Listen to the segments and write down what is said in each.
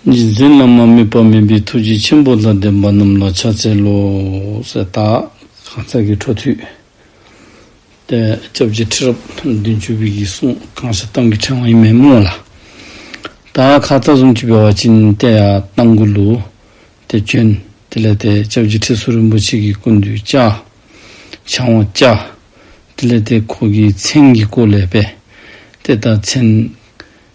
རྗེས་འཛིན་བླ་མ་དམིགས་པ་མེད་པའི་ཐུགས་རྗེ་ཆེན་པོ་དང་ལྡན་པ་རྣམས་ལ་ཕྱག་འཚལ་ལོ། ཞེས་བཏགས། གང་ཟག་གི་འཕྲོ་མཐུད་དེ། སྐྱབས་རྗེ་ཁྲི་རབས་བདུན་ཅུ་པའི་གིས་གསུངས་གང་ཞིག་གཏམ་གྱི་ཕྲེང་བ་ཡིན་མིན་སྨྲོས་ལ། ད་ཁ་རྩ་གསུམ་གྱི་བེ་བ་ཅི་ཡིན་བལྟས་ཡ་བལྟ་མགུ་ལུ། དེ་བྱོན། དེ་ལས་དེ་སྐྱབས་རྗེ་ཁྲི་ཟུར་རིན་པོ་ཆེ་གིས་ཀུན་འདུས་བཅའ། བྱང་བ་བཅའ། དེ་ལས་དེ་ཁོ་གིས་མཚན་གྱི་སྐོར་ལས་པས། དེ་ལྟར་མཚན།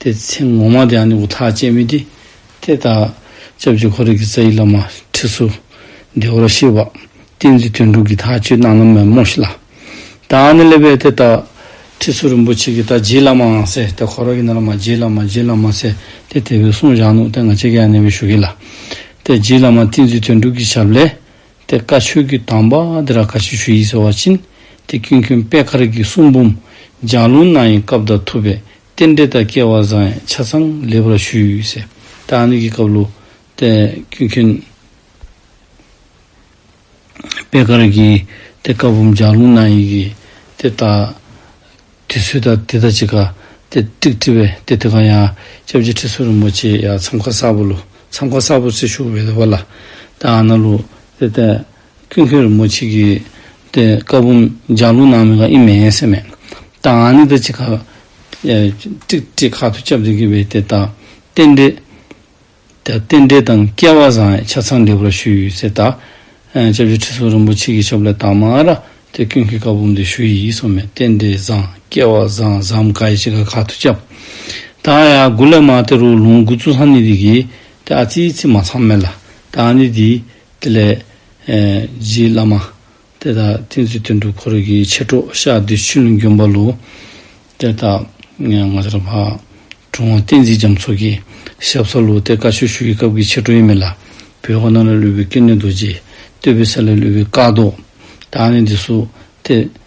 དེ་ཚེ་ངོ་མ་དེའང་ནི་འུ་ཐག་བཅད་མི་བདེ། དེ་ལྟར་ལྕགས་ཀྱུ་འཁོར་རིགས་ཀྱི་རྩ་ཡི་བླ་མ་ཁྲི་ཟུར་བདེ་བར་གཤེགས་པ། བསྟན་འཛིན་དོན་གྲུབ་ཀྱི་དག་བཅོས་གནང་ན་མོད་རྨོ་ཞིག་ལ། དང་ནི་སླེབས་པས་དེ་ལྟར་ཁྲི་ཟུར་རིན་པོ་ཆེ་གི་དག་བྱེད་བླ་མའང་ཟེར་དེ་འཁོར་རིགས་ནི་བླ་མ་རྗེའི་བླ་མ་རྗེའི་བླ་མ་ཟེར་དེ་དེ་བས་གསུང་བཞག་ནུག་དེ་ང་ཅད་ཀྱི་ཡང་ནི་བས་ཞུ་གི་ལ། དེ་རྗེའི་བླ་མ་བསྟན་འཛིན་དོན་གྲུབ་ཀྱི་ཞབས་ལས། དེ་བཀའ་ཆོས་ཀྱི་དམ་པ་དེ་ར་བཀའ་ཆོས་ཞུ་ཡིག་ཟེར་བ་བྱིན། དེ་ཀུན་མཁྱེན་དཔལ་ཁ་རིགས་ཀྱི་གསུང་འབུམ་ལྗགས་ལུང་གནང་ཡིན་སྐབས་དང་ཐུབ་པས་རྟེན་འབྲེལ་དང་སྐལ་བ་བཟང་ཡང་ཆ་ཚང་ལེགས་པར་ཞུས། ད་ནི་གི་སྐབས་ལོ། ཀུན་མཁྱེན། པད་དཀར་གྱིས། དེ་བཀའ་བུམ་ལྗགས་ལུང་གནང་ཡིན་གྱིས། དེ་ལྟ། དུས་ཚོད་ད་དེ་ལྟར་བྱེད་ཀ། དེ་ཀྲིག་ཀྲི་བས་དེ་དེ་གང་ཡང། སྐྱབས་རྗེ་ཁྲི་ཟུར་རིན་པོ་ཆེས་ཡ་མཚམས་ཁ་གསར་པོ་ལོ་མཚམས་ཁ་གསར་པོ་ཚེ་ཞུགས་བས་དེ་བ་ལ། ད་ཨ་ན་ལོ། དེ་ལྟ། ཁྱོད་ཁྱོད་རི་མོ་བྱེད་ཀྱི་དེ་དཀར་པོ་ལྗང་ལུག་ནང་མེད་ཁ་ཨི་མེད་སེམས་མེད། ད་ང་ནི་ད་ཅི་ཁ། ཀྲིག་ཀྲིག་ཁ་ཐུག་ཅབ་རེ་གི་བའི་དེ་ད་རྟེན་འབྲེལ། དེ་རྟེན་འབྲེལ་དང་སྐལ་བ་བཟང་ཆ་ཚང་འབྲེལ་བར་ཞུ་ཡིས་ཟེར་ད། ཅབ་ཅབ་ཁྲི་སོ་རིན་པོ་ཆེ་གི་ཤོབ་ལས་དྭངས་མ་ར་དེ་ཁྱོད་ཁྱོད་དཀར་པོ་འདི་ཞུ་ཡིས་སོ་མེད་རྟེན་འབྲེལ་བཟང་སྐལ་བ་བཟང་བཟའམ་ཁ་ཨི་ཅི་ཁ་ཁ་ཐུག་ཅབ། ད་ཡ་དགུ་ལས་མ་དེ་རུ་ལུང་དགུ་བཙུགས་སམ་ནི་དེ་གི་དེ་ཨ་ཙི་ཨི་ཙི་མ་ཚང་མེད་ལ་ད་ང་ནི་དེའི། དེ་ལས། རྗེའི་བླ་མ། དེ་དག་ཐིམ་ཚུལ་དོན་གྲུབ་འཁོར་གྱི་མཆེད་གྲོགས་ཤཱ་རྡུལ་ཆུ་ཀླུང་འབྱུང་པ་ལུ། གཏེར་བདག། ངྷ་ར་བྷ། གྲུབ་དབང་བསྟན་འཛིན་རྒྱ་མཚོ་གྱི་ཞབས་ས་ལུ་སྟེ་བཀའ་ཆོས་ཞུ་ཡི་སྐབས་ཀྱི་མཆེད་གྲོགས་ཡིན་མོད་ལ། བོད་ཁོ་ན་ལ་ལུས་པའི་སྐྱེ་གནས་རྡོ་རྗེ། སྟོད་བོད་ས་ལ་ལུས་པའི་བཀའ་ཟློག། དག་ནི་འདི་སུ། སྟེ།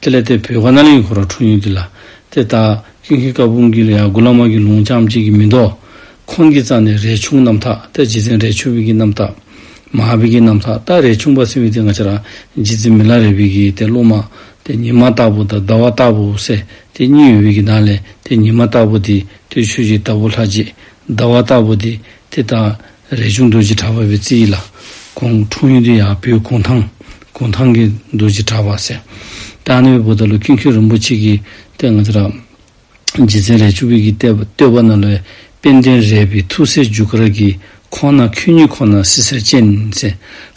དེ་ལས་དེ་བོད་ཁ་ན་ལིང་གི་གོ་ར་འཁྲུངས་ཡོད་འདི་ལ། དེ་ལྟར། ཀིང་ཧི་ཀ་བུང་གིས་ལ་ཡང་གུ་ལ་མ་གི་ལུང་ཅང་གཅིག་གིས་མི་འདོགས། ཁོང་གིས་རྩ་ནས་རས་ཆུང་རྣམ་དག་ཏེ་རྗེ་བཙན་རས་ཆུང་བི་གི་རྣམ་དག། མ་ཧ་བི་གི་རྣམ་དག་ཏཱ་རས་ཆུང་པ་སེ་བི་དེ་ང་ཆ་ར་རྗེ་བཙན་མི་ལ་རས་བི་གི་དེ་ཀླུ་མ། དེ་ཉི་མ་སྟག་བུ་དང་ཟླ་བ་སྟག་བུ་བསེ་དེ་གཉིས་ཡོད་བི་གི་ནང་ལས་དེ་ཉི་མ་སྟག་བུ་དེ་དུས་ཆོས་ཀྱི་ཟླ་བུ་ལྷ་རྗེ། ཟླ་བ་སྟག་བུ་དེ་དེ་དང། རས་ཆུང་རྡོ་རྗེ་གྲགས་པ་བའི་རྩིས་ཡིག་ལ། ཁོང་འཁྲུངས་ཡུལ་དུ་ཡང་སྤོས་གུང་ཐང། གུང་ཐང་གི་རྡོ་རྗེ་གྲགས་པ་ཟེར། རྟ་རྣོན་པའི་བུ་ད་ལོ་ཀིན་ཁྱོད་རིན་པོ་ཆེ་གིས་གཏད་ང་ཚོ་ར། རྗེ་བཙན་རས་ཆུང་བིས་ཀིས་གཏད། བསྟོད་པ་ན་ལོའི་དཔལ་ལྡན་རས་བིས་ཐུགས་སྲས་འཇུ་དཀར་གིས་ཁོང་ན་ཁྱོད་ཉིད་ཁོ་ན་སྲི་སེར་ཅན་ཟེར།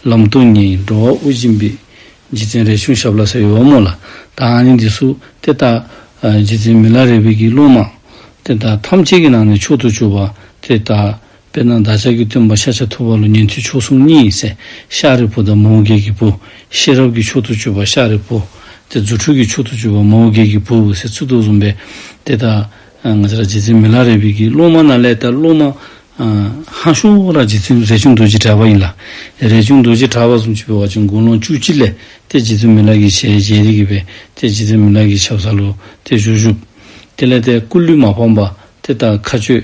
ལམ་སྟོན་ཉིན་འགྲོ་བ་དབུ་འབྱིན་པའི། རྗེ་བཙན་རས་ཆུང་ཞབས་ལ་ཟེར་བའི་བ་མོ་ལ། དང་ནི་འདི་སུ་དེ་ལྟ། རྗེ་བཙན་མི་ལ་རས་བིས་ཀིས་བླུན་མང། དེ་ལྟར་ཐམས་ཅད་ཀི་ནང་ནས་མཆོག་ཏུ་གྱུར་པ་དེ་ལྟར། དཔེར་ན་བདག་ཅག་གི་སྟོན་པ་ཤཱཀྱ་ཐུབ་པ་ལོ་ཉེ་དུས་མཆོག་གསུམ་གཉིས་སྲས་ཤཱ་རིའི་བུ་དང་མོའུ་འགལ་གྱི་བུ། ཤེས་རབ་ཀྱི་མཆོག་ཏུ་གྱུར་པ་ཤཱ་རིའི་བུ། དེ་རྫུ་འཕྲུལ་གྱི་མཆོག་ཏུ་གྱུར་པ་མོའུ་འགལ་གྱི་བུ་འོད་ཟེར་ཚུལ་དུ་གསུངས་པས་དེ་ལྟར། ང་ཅག་རྗེ་བཙུན་མི་ལ་རས་བིས་ཀྱི་སློབ་མ་རྣམས་ལས་ད་སློབ་མ། ཧཱ་ཤོ་ར་རྗེ་བཙུན་རས་ཆུང་རྡོ་རྗེ་གྲགས་པ་ཡིན་ལ། རས་ཆུང་རྡོ་རྗེ་གྲགས་པ་སུམ་ཅུ་པའི་བར་གྱི་མགོ་ལོང་བཅུ་གཅིག་ལས་དེ་རྗེ་བཙུན་མི་ལ་གྱི་ཞལ་ཞལ་རིགས་ཀྱི་བས་དེ་རྗེ་བཙུན་མི་ལ་གྱི་ཆབ་སཱ་ལུ་དེ་བཞུགས་བཞུགས། དེ་ལས་དེ་སྐུ་ལུས་མ་ཕམ་པ་དེ་དག་མཁའ་སྤྱོད།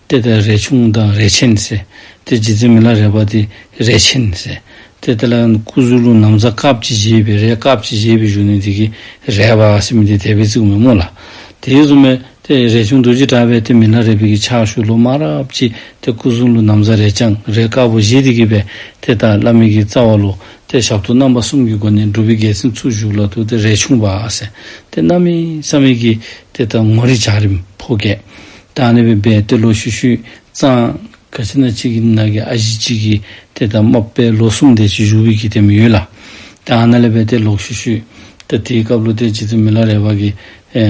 དེ་ལྟ་རས་ཆུང་དང་རས་ཆེན་ཟེར། དེ་རྗེ་བཙུན་མི་ལ་རས་པ་དེ་རས་ཆེན་ཟེར། དེ་ལྟ་ལ་སྐུ་གཟུགས་ལུགས་ནམ་ཟ་ཀྵབ་ཀྱིས་བཞེས་པའི་རས་ཀྵབ་ཀྱིས་བཞེས་པའི་གཞུང་ནི་འདི་གི་རས་པ་སེ་མི་ཏི་དད་པས་བཙུགས་མི་མོ་ལ། དེའི་བཙུན་མས་དེ་རས་ཆུང་རྡོ་རྗེ་བྲག་པས་དེ་མི་ལ་རས་པས་ཀྱི་ཕྱག་ཞུ་ལོ་མ་རབ་ཀྱིས་དེ་སྐུ་གཟུགས་ལུགས་ནམ་ཟ་རས་ལྕང་རས་ཀྵབ་བཞེས་དེ་གི་པས་དེ་ལྟར་བླ་མེད་ཀྱི་རྩ་བ་ལོ། དེ་ཞབས་ཏོག་རྣམ་པ་གསུམ་གྱི་སྒོ་ནས་སྒྲུབ་པའི་རྒྱལ་མཚན་ཚུགས་བཞུགས་ལ་དུ་དེ་རས་ཆུང་བ་ཟེར། དེ་རྣམ་སྨིན་བསམ་མེད་ཀྱིས་དེ་ལྟར་ངོ་རེ་བྱ་རིམ་ཕོ་སྐད། བདག་ནི་བི་བའི་ཏེ་ལོ་ཤུ་ཤུས་གཙང། ག་ཅི་ན་གཅིག་གི་ནག་གི་ཨ་བཞི་གཅིག་གིས་ཏེ་ད་མོབ་པའི་ལོ་གསུམ་ཏེ་ཅི་ཞུ་བི་གི་ཏེ་མི་ཡོད་ལ། བདག་ཨ་ན་ལེ་བའི་ཏེ་ལོག་ཤུ་ཤུས། ད་དེའི་སྐབས་ལོ་ཏེ་ཅི་ཏེ་མི་ལ་རས་བ་གི།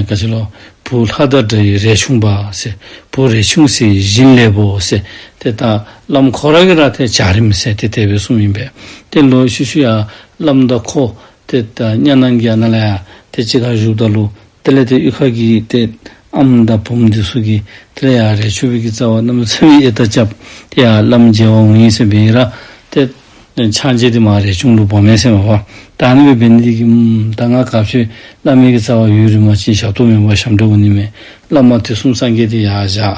ག་ཅི་ལོ། བུ་ལྷ་དར་དྲ་ཡི་རས་ཆུང་པས། བུ་རས་ཆུང་སེ་ཡི་བཞིན་ལེ་བོ་སེ། ཏེ་ད་བླ་མ་ཁོ་ར་གི་ར་ཏེ་བྱ་རིམ་སེ་ཏེ་དེ་བས་གསུམ་ཡིན་པས་ཏེ་ལོ་ཤུ་ཤུ་ཡ་བླ་མ་ད་ཁོ། ཏེ་ད་གཉའ་ནང་གི་ཨ་ན་ལ་ཡ་ཏེ་ཅི་ག་བཞུགས་ད་ལུ། དེ་ལས་དེ་དབུས་ཁ་གི་སྟེ། ཨམ་མདའ་བུམ་འདི་སུ་གི། དེ་ལས་ཡང་རས་ཆུ་བོད་ཀྱི་རྩ་བ་རྣམས་ལ་ཚེ་འི་ཨེ་ད་ཅབ། དེ་ཡང་བླ་མ་རྒྱལ་བ་འུ་གཉིས་སེམས་དཔའི་ཨི་ར། དེ། ཕྱག་འཇལ་དེ་མ་རས་ཆུང་ལུགས་བོགས་མའི་སེམས་དཔའ། དང་ནི་བའི་བེ་ནི་ཏི་གི། ད་སྔ་ག་བྱོད། བླ་མའི་གི་རྩ་བ་ཡུལ་རི་མ་ཅིན་ཞབས་ཏོག་མེ་འབར་ཞབས་འདྲེ་འུ་ནི་མེ། བླ་མ་དེ་གསུམ་སངས་རྒྱས་དེ་ཡང་བཞག།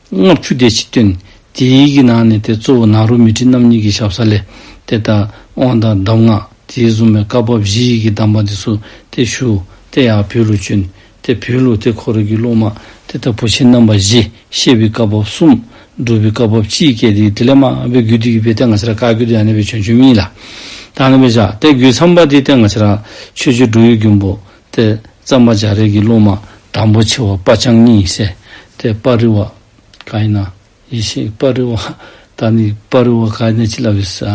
ལྔ་བཅུ་སྟེ་ཕྱི་དོན། དེའི་ཡི་གེ་ནང་ནས་ཏེ་གཙོ་བོ་ནཱ་རོ་མི་ཏྲི་རྣམ་གཉིས་ཀྱི་ཞབས་ས་ལས། དེ་ལྟར་དབང་དང་གདམས་ངག་དེས་བཟུང་བའི་བཀའ་བབས་བཞི་ཡི་གེ་གདམས་པ་འདི་སུ་སྟེ་བཞུགས། དེ་ཡང་བོད་ལུགས་བཅུ། དེ་བོད་ལུགས་དེ་འཁོར་གྱི་ལུགས་མ། དེ་ལྟར་བུ་ཆེན་རྣམ་པ་བཞི། ཤེས་པའི་བཀའ་བབས་གསུམ། སྒྲུབ་པའི་བཀའ་བབས་གཅིག་སྐྱེས་ཏེ་དེ་ལས་མ་འོངས་པའི་རྒྱུད་དེ་ཡུལ་པའི་སྟེ་ང་ཕྱི་ར་བཀའ་རྒྱུད་དེ་ཡང་ནད་པའི་བྱོན་བཅུ་གཉིས་ལ། དང་ལྡན་པའི་ཕྱག། དེ་རྒྱུད་ཚངས་པ་དེའི་སྟེ་ང་ཕྱི་ར། ཆོས་རྒྱུད་འབྲུག་ཡུལ་རྒྱུན་པོ། ཏེ། གཙང་མ་འཇའ་རིས་ཀྱི་སློབ་མ་དང་པོ་ཆེ་བ་དཔའ་ཆང་གཉིས་བསད་དེ་དཔའ་རི་བ། ག་ཡི་ན། ཡེ་ཤེས་དཔའ་རི་བ། ད་ནི་དཔའ་རི་བ་ག་ཡི་ན་ཅི་ལ་བིས།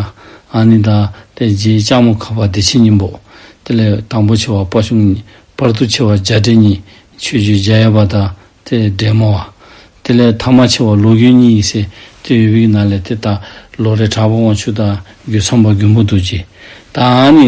ཨ་ནི་ད། དེ་རྗེས་ལྕགས་མོ་ཁ་བ་བདེ་ཆེན་སྙིང་པོ། དེ་ལས་དང་པོ་ཆེ་བ་དཔའ་ཆུང་གཉིས་དཔར་དུ་ཆེ་བ་འཇའ་སྦྲེལ་གཉིས་ཆོས་རྒྱུད་འཇའ་ཡལ་བ་ད་དེ་སྦྲེལ་མོ་བ། དེ་ལས་ཐ་མ་ཆེ་བ་ལོ་རྒྱུས་གཉིས་ཡིས་བསད་དེ་ཡུལ་བིས་ན་ལས་དེ་ད་ལོ་རེ་གྲགས་པ་དབང་ཕྱུག་ད་རྒྱུད་ཚངས་པ་རྒྱུན་བུ་རྡོ་རྗེ། ད་ཨ་ནི།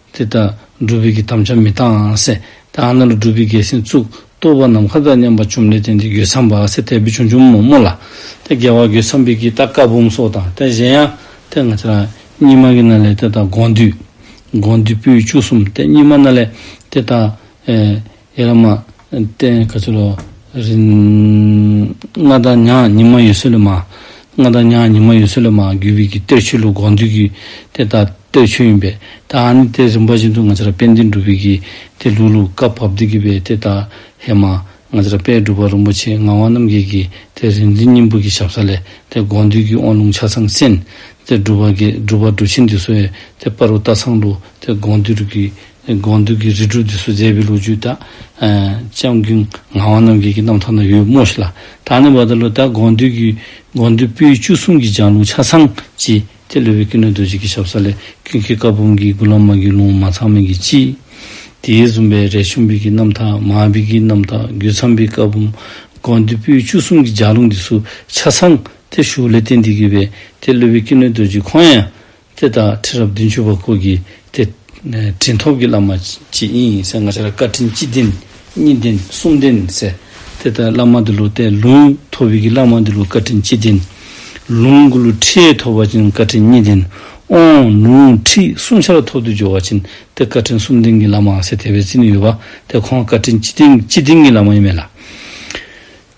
དེ་ལྟར་སྒྲུབ་པའི་གི་དམ་ཆ་མི་གཏང་ཨང་སེ། དེ་ཨ་ན་ལ་སྒྲུབ་པའི་གི་སེམས་བཙུག། ལྟོ་བ་ནམ་མཁའ་ལྟར་མཉམ་པར་བཅོམ་ལས་བརྟན་ཏེ་གོས་འཚམ་པ་ཨ་སེ་དལ་བུས་ཆུང་ཆུང་མོ་མོ་ལ། དེ་དགེ་བ་གོས་འཚམ་པའི་གི་ལྟ་ཀ་བུམ་སོགས་དང་དེ་གཞན་ཡང། དེ་ང་ཚེ་རང། སྙིགས་མ་གི་ན་ལས་དེ་དང་དགོངས་འདུས། དགོངས་འདུས་པོའི་བཅུ་གསུམ་སྟེ་སྙིགས་མ་ན་ལས། དེ་དང། ཡེ་ར་མ། ཏན་ག་ཚུ་ལོ། རིན། མངའ་བདག་ཉག་ཉི་མ་ཡུལ་སྲོལ་ལོ་མ། མངའ་བདག་ཉག་ཉི་མ་ཡུལ་སྲོལ་ལོ་མ་བརྒྱུད་བོད་ཀྱི་གཏེར་ཆོས་ལུགས་དགོངས་འདུས་ཀྱི་གཏེར་དང་གཏེར་ཆོས་ཡིན་པས་ད་ཨ་ནི་གཏེར་རིམ་པ་བཞིན་དུ་ང་ཚོར་དཔལ་ལྡན་སྒྲུབ་དཔལ་གྱི་གཏེར་ལྷུག་ལྷུག་བཀའ་བབས་བདེ་སྐྱིད་པའི་གཏེར་དང་ཧེ་མ། ང་ཚོར་དཔལ་སྒྲུབ་པ་རིན་པོ་ཆེ་ངག་དབང་རྣམ་རྒྱལ་གྱི་གཏེར་རིག་འཛིན་སྙིང་པོ་གྱི་ཞབས་ས་ལས་གཏེར་དགོངས་འདུས་ཀྱི་དབང་ལུང་ཆ་ཚང་གསན། གཏེར་སྒྲུབ་པ་གསྒྲུབ་པ་སྒྲུབ་ཆེན་འདུས་སོ་ཡའི་གཏེར་དཔའ་རུ་རྟ་ཚང་ལུགས་གཏེར་དགོངས་འདུས་སྒྲུབ་ཀྱི་དགོངས་འདུས་ཀྱི་རིགས་དྲུག་འདི་སུ་མཛད་པའི་ལོ་རྒྱུས་དག། ལྕམ་སྐུ་ངག་དབང་རྣམ་རྒྱལ་གྱི་རྣམ་ཐར་ན་ཡོད་རྨོ་ཞིག་ལ། ད་ནི་བར་དོ་ལོ་ཟླ་དགོངས་འདུས་ཀྱི་དགོངས་འདུས་པོད་བཅུ་གསུམ་གྱི་ལྗང་ལུང་ཆ་ཚང་སྤྱི། དེ་ལུས་པའི་ཀུན་ནས་རྡོ་རྗེ་གི་ཞབས་ས་ལས་ཀུན་མཁས་བཀའ་འབུམ་གྱི་དགུ་ལམ་མ་རྒྱུད་ལུང་མ་ཚང་མིང་གི་སྤྱི། དེའི་བཟུང་པའི་རས་ཆུང་བིག་གི་རྣམ་ཐར་མ་བིག་གི་རྣམ་ཐར་རྒྱུད་ཚང་པའི་བཀའ་འབུམ། དགོངས་འདུས་པོད་བཅུ་གསུམ་གྱི་ལྗགས་ལུང་འདི་སུ་ཆ་ཚང། དེ་བཞུགས་ལས་རྟེན་འདི་དགོས་པས་དེ་ལུས་པའི་ཀུན་ནས་རྡོ་རྗེ་ཁོང་ཡང། དེ་དག་ཁྲི་རབས་བདུན་ཅུ་པ་སྐོར་གྱི་དེ། དྲིན་ཐོབ་ཀྱི་བླ་མ་གཅིག་ཡིན་ཡིན་ཟེར་ང་ཆ་ལ་བཀའ་དྲིན་གཅིག་བདེན་གཉིས་བདེན་གསུམ་བདེན་ཟེར། དེ་ལྟར་བླ་མ་འདི་ལོ་བསྟན་ལུང་ཐོབ་ཡུལ་གྱི་བླ་མ་འདི་ལོ་བཀའ་དྲིན་གཅིག་བདེན། ལུང་དགུ་ལོ་ཁྲི་ཐོབ་བ་ཅན་བཀའ་དྲིན་གཉིས་བདེན། ཨོང། ལུང་ཁྲི་གསུམ་ཆ་ལ་ཐོབ་དུས་འབྱོར་བ་ཅན་དེ་བཀའ་དྲིན་གསུམ་བདེན་གྱི་བླ་མ་ཟེར་དེ་བས་རྩིས་ནས་ཡོད་པ་དེ་ཁོང་བཀའ་དྲིན་གཅིག་བདེན་གཅིག་བདེན་གྱི་བླ་མ་ཡིན་མེད་ལ།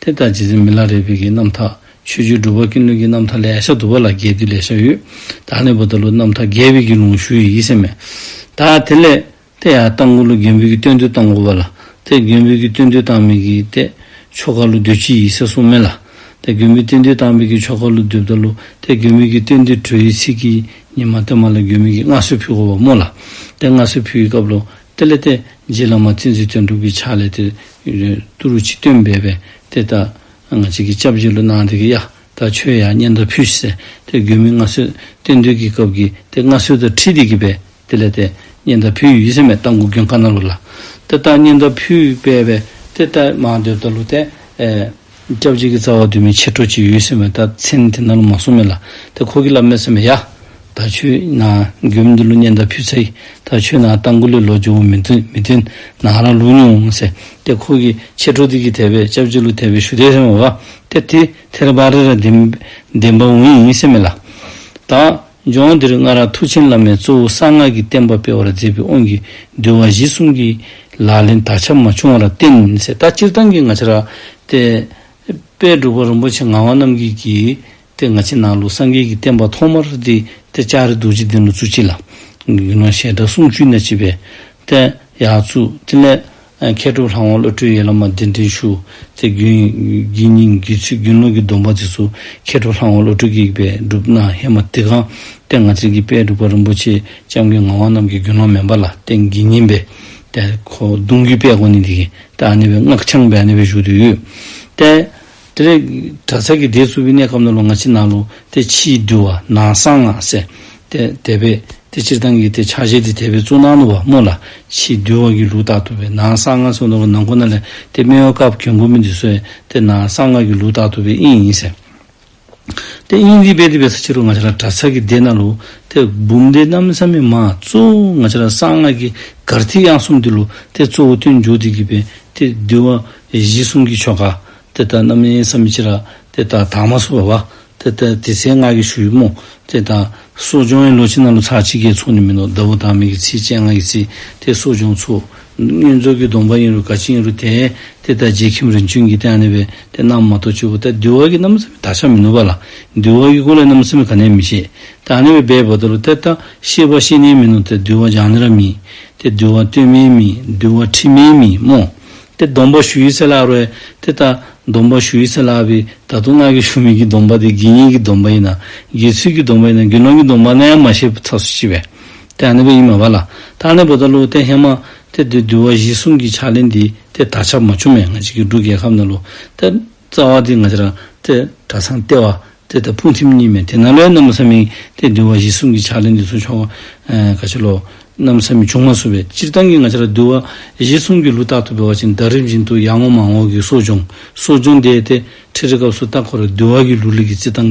དེ་ལྟར་རྗེ་བཙུན་མི་ལ་རས་བོད་ཀྱི་རྣམ་ཐར་ཆོས་བརྒྱུད་སྒྲུབ་པ་ཀུན་ལུགས་ཀྱི་རྣམ་ཐར་ལས་ཤ་དུ་བ་ལ་རྒྱས་བསྡུས་ལས་ཤ་ཡོད་དག་ནི་བོ་ད་ལུགས་རྣམ་ཐར་རྒྱས་བསྡུས་ཀྱི་ལུང་ཞུ་ཡི་ཡིད་སེམས་མེད་དག་དེ་ལས། དེ་ཡང་སྟག་མགོ་ལུགས་རྒྱན་བོད་ཀྱི་སྟོན་བསྡུས་སྟག་མགོ་བ་ལ་དེ་རྒྱན་བོད་ཀྱི་སྟོན་བསྡུས་སྟག་མིག་གི་ཏེ། ཆོ་ག་ལུགས་བདུད་སྤྱི་ཡི་སྲས་སྲུང་མེ་ལ་དེ་རྒྱན་བོད་སྟོན་བསྡུས་སྟག་མིག་གི་ཆོ་ག་ལུགས་བདུད་བདག་ལུགས་དེ་རྒྱན་བོད་ཀྱི་སྟོན་བསྡུས་བྲོ་ཡི་ཚིག་གི་ཉི་མ་སྟོན་མ་ལ་རྒྱུད་མིག་གི་མངའ་གསོལ་ཕུལ་གོ་བ་མོ་ལ་དེ་མངའ་གསོལ་ཕུལ་གྱི་སྐབས་ལོ་དེ་ལས་དེ་རྗེས་བླ་མ་ཚིག་འཛིན་དོན་གྲུབ་ཀྱི་ཕྱག་ལས་དེ། ཏུ་རུ་ཆིག་སྟོན་སྦས་པས་དེ་ལྟ། ང་གཅིག་གིས་སྐྱབས་རྗེ་བློ་སྣང་དེ་གི་ཡག་ད་ཆོས་ཡག་སྙན་ད་ཕུལ་ཞེས་དེ་དགོས་མིན་མངའ་གསོལ་རྟེན་འདུས་ཀྱི་སྐབས་ཀྱི་དེ་མངའ་གསོལ་དུ་ཁྲིད་དེ་གི་པས་དེ་ལས་དེ་སྙན་ད་ཕུལ་ཡུལ་ཡིད་སེམས་མེད་ལྟ་འགུགས་སྐྱོན་ཁ་ན་རུ་ལ། དེ་ལྟར་སྙན་ད་ཕུལ་སྦས་པས་དེ་ལྟ་མང་འདོད་ད་ལུ་ཏའི། སྐྱབས་གཅིག་གི་རྩ་བ་དུ་མའི་ཕྱིར་ཁྲོ་ཆེའི་ཡུལ་སེམས་པའི་རྟགས་མཚན་དེ་རྣ་ལུ་མ་སོ་མེ་ལ་དེ་འཁོར་གྱི་བླ་མའི་སེམས་པ་ཡ། ད་ཆོས་ན། རྒྱུ་མི་འདི་ལུ་གཉན་ད་ཕུད་ཚ་ཡི། ད་ཆོས་ན་རྟ་མགོ་ལས་ལོ་རྒྱུ་བོ་མི་འདི་མི་འདི། ན་ར་ལུ་ཉུང་ངུ་ཟེ། དེ་འཁོར་གྱི་ཕྱིར་ཁྲོ་དེ་གྱི་དད་པས་སྐྱབས་གཅིག་ལུ་དད་པའི་ཞུ་བདེའི་སེམས་པ་བ། དེ་དེ་དྷེ་ར་བ་རེ་ར་དེ། བདེན་པ་འུ་ཡིན་སེམས་མེ་ལ། ད། ལྗོངས་འདིར་སྔ་རབས་མཐུ་ཆེན་བླ་མས་གཙོ་བོ་གསང་སྔགས་ཀྱི་བསྟན་པ་སྤེལ་བར་མཛད་པའི་དབང་གིས་འདུལ་བ་གཞི་གསུམ་གྱི་ལག་ལེན་དར་ཁྱབ་མ་བྱུང་བར་བརྟེན་གསེར་རྟ་སྤྱིར་བཏང་གི་ང་ཆ་རག་སྟེ། དཔལ་སྒྲུབ་པ་རིན་པོ་ཆེ་ངག་དབང་རྣམ་རྒྱལ་གྱིས་སྟེ་ང་ཆའི་ནང་ལུགས་སངས་རྒྱས་ཀྱི་བསྟན་པ་ཐོག་མར་བསྟི་སྟེ་ལྕགས་རི་རྡོ་རྗེ་གདན་ལ་བཙུགས་ཅི་ལ། ཞལ་གྲགས་སུམ་ཅུའི་ནས་བྱས་པའི། ཡག་བཙུགས་ཏེ་ལས་མཁས་གྲུབ་ལྷ་དབང་བློ་གྲོས་ཡན་ལག་མ་བདེན་དོན་ཞུ། ཚེ་རྒྱུན་དགེ་སྙིང་རྒྱུད་ཚུལ་རྒྱུན་ཀློང་གི་སྡོམ་པ་འདི་སུ་མཁས་གྲུབ་ལྷ་དབང་བློ་གྲོས་ཀྱི་ཡིག་པས་སྒྲུབ་ན་ཧེ་མ་ཏི་གང་སྟེ་ང་ཚན་གྱི་དཔལ་འབྲུག་པ་རིན་པོ་ཆེ་ལྕམ་གྱི་ངག་དབང་རྣམས་ཀྱི་རྒྱུད་ལོང་མེ་འབར་ལ་བརྟེན་དགེ་བསྙེན་པའི་ཏེ་གདུང་རྒྱུད་དཔལ་གོ་ནི་འདི་གིས་ཏེ་ཨ་ནེ་བའི་སྔགས་འཆང་བས་ཨ་ནེ་བའི་གཞུག་ཏུ་ཡོད་ཏེ། དེ་ནས་དགྲ་ཚལ་གྱི་སྡེའི་ཙུག་པའི་གནས་ཁམས་ནོར་ལུག་ང་ཕྱི་ནང་ལུག་སྟེ་ཕྱིའི་འདུལ་བ་ནང་གསང་སྔགས་གསལ། སྟེ་དད་པས་དེ་སྤྱིར་བཏང་གི་སྟེ་ཕྱག་བཞེས་དེ་དད་པས་ཙུག་ནང་ནོར་བ་རྨོ་ལ་ཕྱིའི་འདུལ་བ་གྱི་ལུག་རྟགས་ཐུབ་པས་ནང་གསང་སྔགས་སོགས་ནོར་བ་ནང་ཁོ་ན་ལས་དེ་སྨེ་བའི་སྐབས་གྱོན་གོས་མི་འདི་གསོལ། དེ་ནང་གསང་སྔགས་ཀྱི་ལུག་རྟགས་ཐུབ་པས་དབྱིངས་ཡིན་ཟེར། དེ་དབྱིངས་འདི་དཔལ་དེ་བས་ས་ཕྱི་རུ་ང་ཕྱི་ལ་དགྲ་ཚལ་གྱི་སྡེ་ནང་ལུག་སྟེ་འབུམ་སྡེ་གནམ་ས་མི་མ་ཙུག་ང་ཕྱི་ལ་གསང་སྔགས་ཀྱི་གར་ཐིག་དབྱངས་གསུམ་དེ་ལུག་སྟེ་གཙོ་བོ་སྟོན་མཇུག་དེ་བགྱིས་པས་དེ་འདུལ་བ་གཞི་གསུམ་གྱི་ཆོ་ག། དེ་ལྟར་རྣམ་སྨིན་བསམ་མི་ཕྱི་ར། དེ་ལྟར་དྭངས་མ་སོ་བ་བ། དེ་ལྟར་དེ་སྲས་སྔགས་ཀྱི་ཞུ་ཡིག་སྨོ། དེ་ལྟར། གསོ་སྦྱོང་ཡིན་ལོ་ཕྱི་ནང་ལོ་ཚར་གཅིག་རྒྱའི་ཚོགས་ནི་མིན་ནོ་བདག་པོ་དང་མིག་གི་ཚིལ་སྤྱན་སྔགས་ཀྱི་ཚིལ། དེ་གསོ་སྦྱོང་ཚུལ། བསྙེན་རྫོགས་ཀྱི་སྡོམ་པ་ཡིན་རུང་དགའ་བྱེད་ཡིན་རུང་དེ། དེ་ལྟར་རྗེ་ཁྱིམ་རིན་ཆེན་གྱི་སྟན་གནས་པས་དེ་རྣམས་མ་གཏོགས་སྤྱི་བོ་སྟེ་འདུལ་བ་གྱི་རྣམ་སྨིན་བདག་ཅག་མི་ནུབ་པ་ལ། འདུལ་བ་གྱི་སྐུ་ལས་རྣམ་སྨིན་གང་གནས་མི་ཤེས། དང་གནས་པའི་སྦས་པ་དོ་ལོ་དེ་ལྟར་ཤེས་པ་ཤེས་ནས་མིན་ནོ་དེ་འདུལ་བ་སྦྱང་ནི་ར་མིན། དེ་འདུལ་བ་སྟོད་སྨད་མིན། འདུལ་བ་ཁྲི་སྨད་མིན་སྨོ། དེ་སྡོམ་པ་ཞུ་ཡིས་སེ་ལ་ཨ་རོའི། དེ་ལྟར་སྡོམ་པ་ཞུ་ཡིས་སེ་ལ་ཨ་བྷི། ད་དུང་སྔགས་ཀྱི་ཞུ་མིག་གི་སྡོམ་པ་དེ་དགེ་བསྙེན་གྱི་སྡོམ་པ་ཡིན་ན། དགེ་ཚུལ་གྱི་སྡོམ་པ་ཡིན་ན་དགེ་སློང་གི་སྡོམ་པ་ན་ཡང་མ་ཤེས་པའི་ཚགས་སུ་ལྕི་བས། དེ་ཨ་ནེ་བོ་ཡིན་མ་བ་ལ། ད་ཨ་ནེ་བོ་ད་ཀླུ་བོ་ཏའི་ཧེ་མ། དེ་དེ་འདུལ་བ་བཞི་གསུམ་གྱི་ཕྱག་ལེན་འདི། དེ་ད་ཆ་མ་བྱུང་མེད་ང་གཅིག་གི་འབྲུག་རྒྱལ་ཁབ་ན་ཀླུ་བོ་ཏའི། རྩ་བ་དེ་ང་ཅི་རང་སྟེ་གྲ་ཚང་སྟེ་བ་སྟེ་ལྟ་ཕུང་ཐིམ་གཉིས་མེད་དེ་ན་ལོའི་གནམ་ས་མིང་སྟེ་གདུལ་བ་བཞི་གསུམ་གྱི་ཕྱག་ལེན་འདི་ཚོ་ཆོ་ག་ཕྱི་ལོ། གནམ་ས་མི་བྱུང་མ་བཟོ་བའི་སྤྱིར་བཏང་གི་ང་ཅི་ར་གདུལ་བ་བཞི་གསུམ་གྱི་ལུས་རྟག་ཏུ་འབེལ་བ་ཅན་དག་རིམ་བཞིན་དུ་ཡར་ངོ་མར་ངོ་གི་གསོ་སྦྱོང་གསོ་སྦྱོང་བཟླས་ཏེ་ཁྲིད་རེ་སྐབས་སུ་རྟག་ཁོ་ར་གདུལ་བ་གྱི་ལུས་ལུས་ཀྱི་རྩི་ཐང་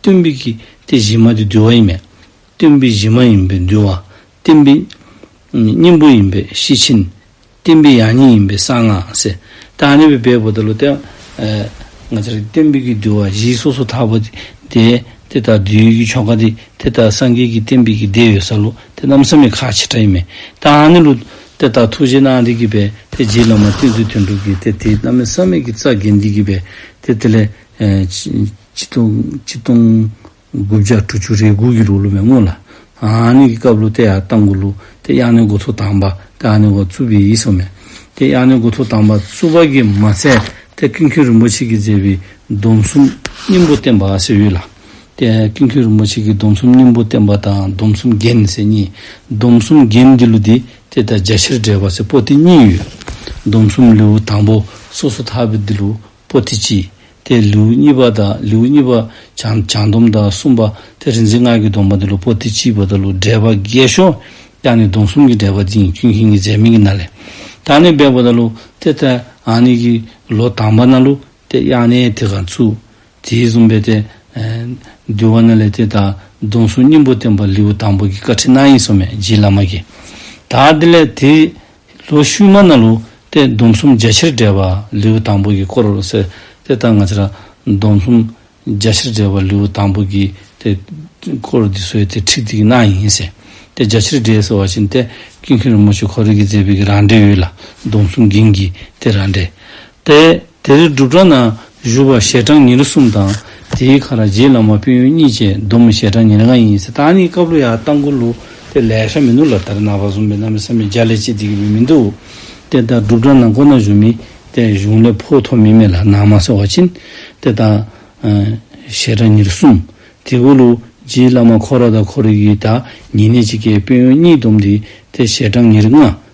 སྟོན་པའི་ཀྱི་ཏེ་གཞི་མ་དེ་འདུལ་བ་ཡིན་མོད། སྟོན་པའི་གཞི་མ་ཡིན་པས་འདུལ་བ། སྟོན་པའི། སྙིང་པོ་ཡིན་པས་ཤེར་ཕྱིན། སྟོན་པའི་ཡང་སྙིང་ཡིན་པས་གསང་སྔགས། དང་ནི་བའི་བའི་པོ་ཏཱ་ལོ་ཏཱི། ང་ཚ་རིགས་སྟོན་པའི་ཀྱི་འདུལ་བ་བཞི་སོ་སོ་ཐར་པ། དེ་དེ་ལྟར་འདུལ་ཡུལ་གྱི་ཆོ་ག་དེ་དེ་ལྟར་སངས་རྒྱས་ཀྱི་བསྟན་པའི་ཀྱི་བདེ་ཡོད་ས་ལུགས་དེ་རྣམ་གསུམ་མེད་ཁ་ཕྱི་དགྲ་ཡིན་མོད། དང་ནི་ལུགས། དེ་ལྟར་ཐུགས་རྗེ་གནང་འདི་ཀྱི་བས་དེ་རྗེས་ལ་མ་བསྟན་ཚུལ་དོན་གྲུབ་ཀྱི་དེ་དེ་རྣམ་སྨིན་བསམ་མེད་ཀྱི་རྩ་དགེ་འདི་ཀྱི་བས་དེ་དེ་ལས་སྤྱི་སྟོང་དགུ་བརྒྱ་དྲུག་ཅུ་རེའི་དགུ་གི་རུ་ལུ་བའི་སྔོན་ལ། ཨཱ་ནི་གི་སྐབས་ལུ་ཏེ་ཡ་ཏང་གི་ལུ་ཏེ་ཡ་ནི་གོ་ཐོ་དང་པ་ཏེ་ཨཱ་ནི་གོ་ཙུ་པི་ཡི་སོ་མེ་ཏེ་ཡ་ནི་གོ་ཐོ་དང་པ་ཙུ་པ་གི་མ་ཚད་དེ་ཀིན་ཁུན་རིན་པོ་ཆེ་གིས་མཛད་པའི་སྡོམ་གསུམ་སྙིང་པོ་བསྟན་པ་ཟེར་ཡོད་ལ། དེ་ཀིན་ཁུན་རིན་པོ་ཆེ་གིས་སྡོམ་གསུམ་སྙིང་པོ་བསྟན་པ་དང་སྡོམ་གསུམ་རྒྱན་ཟེར་གཉིས་སྡོམ་གསུམ་རྒྱན་འདི་ལུ་ཏེ་དེ་དང་རྒྱ་ཆེར་འདྲེས་པ་ཟེར་པོ་ཏི་གཉིས་ཡོད། སྡོམ་གསུམ་ལེའུ་དང་པོ་སོ་སོ་དག་པའི་འདི་ལུ། པོ་ཏི་སྤྱི། དེ་ལེའུ་གཉིས་པ་དང་ལེའུ་གཉིས་པ། བྱང་སྡོམ་དང་གསུམ་པ། དེ་རིག་འཛིན་སྔགས་ཀྱི་སྡོམ་པ་འདི་ལུགས་པོ་ཏི་སྤྱིའི་བར་དུ་ལུགས་འགྲེལ་པ་བརྒྱད་ཤོ་ཀྱང་ནི་སྡོམ་གསུམ་གྱི་འགྲེལ་པ་འདི་ཉིད་ཀུན་མཁྱེན་གྱི་མཛད་མིང་གི་ན་ལས། དང་ནི་སྦས་པ་ན་ལུགས་དེ་ལྟར་འང་ནི་ཀྱི། ལོ་དང་པ་ན་ལུགས་དེ་དབྱངས་ནི་དེ་གར་ཚུགས། དེའི་གསུམ་པའི་ཏེ། འདུལ་བ་ན་ལས་དེ་དང་སྡོམ་གསུམ་སྙིང་པོ་བསྟན་པ་ལེའུ་དང་པོ་གྱི་བཀའ་ཁྲིད་རྣམ་གཡེང་སོ་མེད་རྗེའི་བླ་མ་ཀྱེ། དང་དེ་ལས་དེའི། ལོ་ཤུལ་མ་ན་ལུ་སྟེ་སྡོམ་གསུམ་རྒྱ་ཆེར་བསྒྲལ་བ་ལེའུ་དང་པོ་གྱི་སྐོར་རོ་ཟེར། དེ་ལྟར་ང་ཚེ་རང་སྡོམ་གསུམ་རྒྱ་ཆེར་བསྒྲལ་བ་ལེའུ་དང་པོ་གྱི་དེ་སྐོར་འདི་སོའི་དེ་ཁྲིད་འདིའི་ནང་ཡིན་ཟེར། དེ་རྒྱ་ཆེར་བསྒྲལ་ཟེར་བ་བཞིན་ཏེ་ཀུན་མཁྱེན་རིན་པོ་ཆེ་གྷོ་རི་གིས་མཛད་པའི་གི་རང་འགྲེལ་ཡོད་ལ་སྡོམ་གསུམ་འགྱིང་གིས་དེ་རང་འགྲེལ། ཏེ། དེ་རིང་སྒྲུབ་གྲྭ་ན་བཞུགས་པ་ཞལ་གྲངས་ཉེར་གསུམ་དང་དེའི་ཁ་ར་རྗེའི་བླ་མ་དཔོན་ཡོན་གཉིས་བཅས་བསྡོམས་མོ་ཞལ་གྲངས་ཉེར་ལྔ་ཡིན། ད་ནི་སྐབས་ལོ་ཡག་སྟག་མགོ་ལུག་དེ་ལས་ཤ་མི་ནུ་ལ་དར་ནག་བ་ཟུང་མི་ནག་མི་སྲ་མི་འཇའ་ལས་ཅི་འདི་གི་མི་མི་འདུག། དེ་ལྟར་སྒྲུབ་གྲྭ་ན་མགོ་ནག་བཞུགས་མི་དེ་གཞུང་ལས་ཕོགས་ཐོགས་མི་མེད་ལ་ནག་མ་སེར་བ་ཕྱིན། དེ་ལྟར། ཞལ་གྲངས་ཉེར་གསུམ། དེ་སྐོར་ལོ་རྗེའི་བླ་མ་ཁོ་ར་དང་ཁོ་ར་ཡུལ་དག་ཉེ་གནས་ཅིག་ཀའི་དཔོན་ཡོན་གཉིས་བསྡོམས་ཏེ་དེ་ཞལ་གྲངས་ཉེར་ལྔ།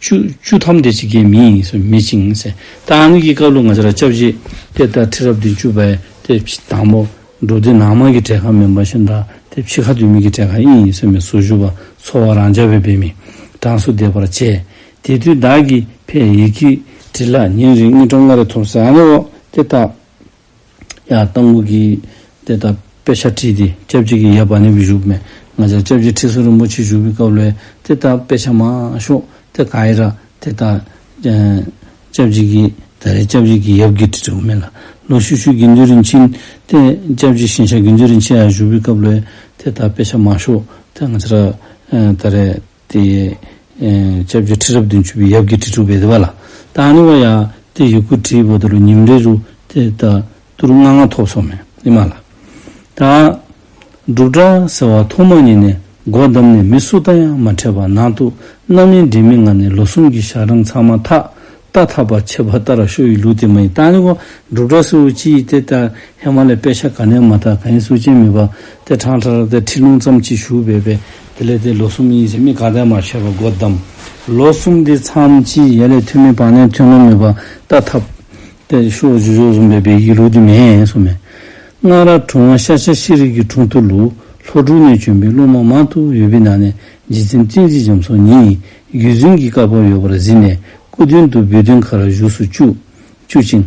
བཅུ། བཅུ་ཐམས་ཏེ་ཇི་སྐད་མིན་ཡིན་སེམས་མེད་ཅིང། རྟགས་ནི་ཀྱི་བཀའ་ལུང་ང་ཅི་ར་ལྕགས་བཞི། དེ་ལྟར་ཁྲི་རབས་བདུན་བཅུ་པའི་དེ་ཕྱིས་དང་པོ། འབྲུག་སྡེ་ནང་མ་གི་གྲལ་ཁ་མེ་འབར་བཞིན་དག་དེ་ཕྱིས་ཁ་འདུས་མི་གི་གྲལ་ཁ་ཨིན་ཡིན་སེམས་མེད་ཟུར་བཞུགས་པ་ཚོ་བ་རང་ཅག་བོད་པའི་མི་གྲངས་སུ་འདེད་པར་བྱས། དེ་དུས་བདག་གིས་ཕའི་ཡི་གེ་བྲིས་ལ་ཉིན་རེ་གཉིས་སྤྲོ་ལྔ་རེ་ཐོབ་ས་ནི་འོ་དེ་ལྟ། ཡང་སྟོང་སྐུ་གྱིས་དེ་ལྟར་དཔེ་ཆ་བྲིས་ཏེ་སྐྱབས་རྗེ་གི་ཡབ་བ་ནི་བཞུགས་མེད་ང་ཅག་སྐྱབས་རྗེ་ཁྲི་ཟུར་རིན་པོ་ཆེ་བཞུགས་པའི་སྐབས་ལས་དེ་ལྟར་དཔེ་ཆ་མང་ཤོག་དེ་ག་ཡི་ར་དེ་ལྟར། སྐྱབས་རྗེ་གིས་ད་རེས་སྐྱབས་རྗེ་གི་ཡབ་གྱི་དྲི་བྲོ་མེད་ལ་ལོ་ཤུ་ཤུའི་དགེ་འདུན་རིན་ཆེན་ཏེ་སྐྱབས་རྗེ་ཤིང་ཤ་དགེ་འདུན་རིན་ཆེན་ཡང་བཞུགས་པའི་སྐབས་ལས་དེ་ལྟར་དཔེ་ཆ་མང་ཤོག་དེ་ང་ཅག་ད་རེས། ཏེ། ལྕགས་ཀྱི་ཁྲི་རབ་བདུན་ཅུ་པའི་ཡབ་ཀྱི་ཁྲི་དྲུག་པའི་བདེ་བ་ལ། ཏཱ་ནི་བ་ཡ། ཏེ་ཡི་གུ་དྲི་བོ་དུ་རུ་ཉིམ་རེ་རུ། ཏེ་ཏ། དུ་རུ་ལྔ་ལྔ་ཐོག་སོགས་མེ། ཨི་མ་ལ། ཏ། འབྲུག་སྒྲ་ཟེར་བ་ཐོག་མ་ཉིད་ནས་སྒོ་བསྡམས་ནས་མི་སུ་དང་ཡང་མ་འཕྲད་པར་ནང་དུ་རྣམ་གཡེང་འདྲེས་མི་ང་ནས་ལོ་གསུམ་གྱི་ཞག་གྲངས་ཚང་མ་ཐག་ཏག་ཐག་པར་ཆད་པ་ལྟར་ར་ཤོ་ཡི་ལུགས་དེ་མ་ཡིན་ཏཱ་ནི་ཀོ་འབྲུག་གྲགས་སུ་ཅི་ཡིས་དེ་ལྟར་ཧེ་མ་ལའི་དཔེ་ཆ་ག་ནས་མ་ཐག་ག་ཡིན་གསུ་ཅན་མི་པ་དེ་བྲང་ཁྲ་ར་དེ་ཁྲི་ལུང་ཙམ་གཅིག་བཞུགས་བས་པས་དེ་ལས་དེ་ལོ་གསུམ་ཡིན་ཞེས་མི་ག་དེ་མ་ཤོད་པ་སྒོ་བསྡམས། ལོ་གསུམ་དེ་མཚམས་ཅི་ཡས་ལས་ཐོན་མི་པ་ནས་ཐོན་ལོ་མི་པ་ཏག་ཐག་པར་ཤོ་བཞུགས་ཤོག་གསུངས་པས་བལ་གྱི་ལུགས་དེ་མེད་གསུངས། མན་ངག་ར་གྲོང་བ་ཤ་ཤ་ཤེས་རིག་གི་གྲོང་དུ་ལུགས་ལྷོ་འབྲུག་ནས་བྱོན་པའི་སློབ་མ་མང་དུ་ཡོད་པའི་ནང་ནས་རྗེ་བཙན་བཙན་གྱིས་འཇམ་སོང་ཉིད་རྒྱུད་འཛིན་གྱི་བཀའ་བབས་ཡོད་པར་གཟིགས་ནས་སྐུ་མདུན་དུ་འབུལ་དོན་ཁ་ར་བཞུགས་སུ་བཅུག། བཅུག་ཅིང།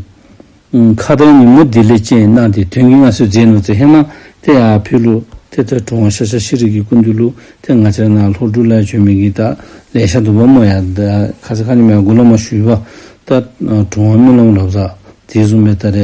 ཁ་བརྡའི་ཉིན་མོ་འདི་ལེ་བཅས་གནང་སྟེ་དོན་གྱི་མངའ་གསོལ་མཛད་ནོ་ཙི་ཧེ་མ་ཏེ་ཨ་ཕི་ལུ་ཐེ་ཐ་གྲོང་བ་ཤ་ཤ་ཤི་རི་གི་སྐུ་མདུན་ལུགས་ཐེ་ང་ཅར་ནང་ལྷོ་འབྲུག་བླ་ཆོས་མི་གི་ཏཱ་ལའི་ཤ་དུམ་བ་མོ་ཡ་ད་ཁ་ས་ཁ་ཉི་མ་ཡ་དགུ་བླ་མ་ཞུས་པ་ཏཱ་གྲོང་བ་རྨི་ལམ་རབ་བཟའ་དེས་སུ་མེ་ད་རེ་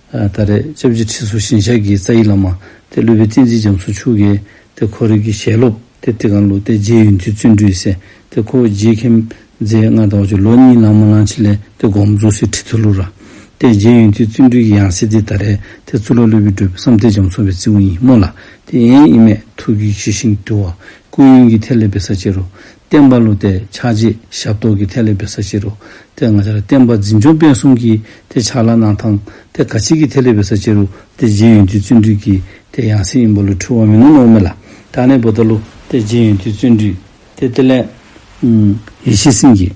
ད་རེས་ལྕགས་བྱི་ཁྲི་ཟུར་ཞིང་ཞབས་ཀྱི་རྩ་ཡིག་བླ་མ། ཏེ་ཀླུ་པའི་བསྟན་འཛིན་རྒྱ་མཚོ་ཕྱུག། ཏེ་ཁོ་རིགས་ཀྱི་ཞལ་སློབ། ཏེ་ཏི་ཀང་ཀླུ། ཏེ་རྗེ་ཡུན་ཐུའི་བརྩོན་འགྲུས་སེ། ཏེ་ཁོ་བོ་རྗེའི་ཁྱིམ། མཛད་ལྔ་དང་བ་ཅོ་ལོ་གཉིས་ལང་མོ་གླང་ཆེན་ལས། ཏེ་སྒོམ་རྫོགས་སེ་ཁྲི་ཐུ་ལུ་ར། ཏེ་རྗེ་ཡུན་ཐུའི་བརྩོན་འགྲུས་ཀྱི་ཡང་སྲིད་ཏེ་ད་རེས་ཏེ་གཙུག་ལག་ཀླུ་པའི་སྒྲོལ་བསམ་ཏེ་རྒྱ་མཚོ་བའི་རྩིའུ་ཡིན་སྨོན་ལ། ཏེ་ཨེན་ཨི་མས་ཐུགས་ཀྱི་ཞི་ཞིང་དུལ་བ། སྐུ་ཡོན་གྱི་ཐེག་ལེ་བེ་ས་ཅེ་རུ། བསྟན་པ་བསླུ་ཏེ་ཕྱག་རྗེས་ཞབས་ཏོག་གི་ཐེག་ལེ་འབད་ས་བྱེད་རོ། དེ་སྔ་ཆར་བསྟན་པ་འཛིན་སྐྱོང་སྤེལ་གསུམ་གྱིས་དེ་ཕྱག་ལ་གནང་དང། དེ་ག་ཕྱིས་ཀྱི་ཐེག་ལེ་འབད་ས་བྱེད་རོ། དེ་རྗེས་ཡོན་ཏུའི་བརྩོན་འགྲུས་ཀྱིས་དེ་ཡང་སྲིད་ཡིན་པ་ལོ་འཁྲུལ་བ་མིན་ནོ་ནོར་མེད་ལ་དྲག་ནས་བོ་ད་ལོ། དེ་རྗེས་ཡོན་ཏུའི་བརྩོན་འགྲུས། དེ་ལྟེ་ལས། ཡེ་ཤེས་སེམས་ཀྱིས།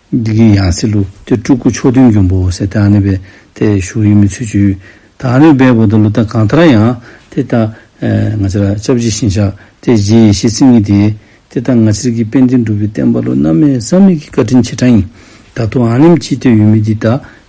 འདི་གའི་ཡང་སྲིད་ལུགས་དེ་སྤྲུལ་སྐུ་མཆོག་བདུན་གྱོང་པོ་སེ་ཏཱ་ནི་པའི་ཐད་བཞུགས་ཡོད་མེད་ཚུལ་བརྗོད། ད་ནི་པའི་བོ་ད་ལོ་ད་གང་ལྟར་ཡང་དེ་ལྟ། ང་ཚེ་ལ་ལྕགས་བྱི་བཞིན་ཆགས་དེ་རྗེས་ཡེ་ཤེས་སེམས་ཉིད་དེ། དེ་ལྟར་ང་ཚེ་རིགས་ཀྱི་དཔལ་ལྡན་འགྲུབ་པའི་བསྟན་པ་ལོ་ན་མའི་བསམ་མེད་ཀྱི་བཀའ་དྲིན་ཆེ་ཕྲ་ཡིན། ད་དུང་ཨ་ནེམ་ཅིའི་ཐད་ཡོད་མེད་འདི་ད་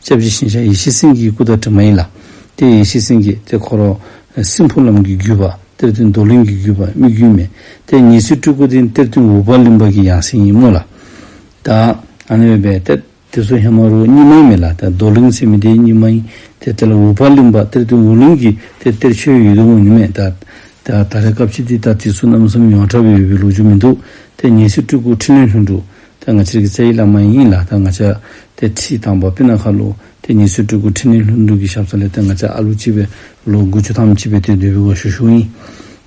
སྐྱབས་ཀྱི་ཤིང་ཤ་ཡེ་ཤེས་སེང་གེའི་སྐུ་དང་གྲིབ་མ་ཡིན་ལ། དེ་ཡེ་ཤེས་སེང་གེ་དེ་འཁོར་རོ། སྲིན་ཕུར་ལམ་གྱི་བརྒྱུད་པ་གཏེར་སྟོན་རྡོར་གླིང་གི་བརྒྱུད་པ་སྨིག་རྒྱུའི་མེ། དེ་ཉི་ཟེར་སྤྲུལ་སྐུ་དེ་གཏེར་སྟོན་འུག་པ་གླིང་པ་གྱི་ཡང་སྲིད་ཡིན་མོད་ལ། དཱ། འོད་པའི་གཏེར། དེ་ཚོ་ཧེ་མ་རུའི་སྙེ་མའི་མེ་ལ་དེ་རྡོར་གླིང་ཚེ་མི་དེའི་སྙེ་མ་ཡིན། དེ་དེ་ལ་འུག་པ་གླིང་པ་གཏེར་སྟོན་འུག་གླིང་གིས་དེ་གཏེར་ཆོས་ཡོད་དུ་འོང་མྱོང་མེད། དཱ། ད་རེས་སྐབས་ཕྱི་དེ་ལྟར་དུས་ཚོད་རྣམ་གསུམ་ཡོངས་གྲགས་པའི་འོས་པའི་ལོ་རྒྱུས་མི་འདུག་དེ་ཉི་ཟེར་སྤྲུལ་སྐུ་ཕྲིན་ལས་ལྷུན་གྲུབ། ད་ང་ཕྱིར་གྱི་རྩལ་ཡིད་ལ་མ་ཡིན་ཡིན་ལགས་ད་ང་ཅག་དེ་ཁྲིད་དང་པོ་པི་ན་ཁ་ལུ་དེ་ཉི་ཚོའི་སྤྲུལ་སྐུ་ཁྲི་ནི་ལྷུན་འགྲུབ་ཀྱི་ཞབས་ས་ལས་དེ་ང་ཅག་ཨ་ལུ་གཅིག་པའི་ལོ་དགུ་བཅུ་ཐམ་གཅིག་པའི་དུས་བདུད་པའི་འོ་ཞོ་ཞུགས་ཡིན་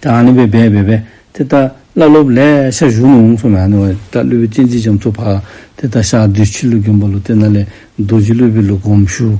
དེ་ཨ་ནི་བའི་བས་བས་བས་དེ་ལྟ་བླ་སློབ་ལས་ཤ་ཞུགས་ནས་འོང་སོང་བས་ཨ་ནི་བ་དེ་ལྟ་ཀླུ་བའི་སྤྱན་གཅིག་བྱམས་ཚོགས་འཕགས་དེ་ལྟ་ཞག་བདུད་ཕྱི་ལུགས་གྱོན་པ་ལོ་དེ་ན་ལས་རྡོ་རྗེ་ཀླུ་བའི་ལུགས་གོམས་ཞུགས་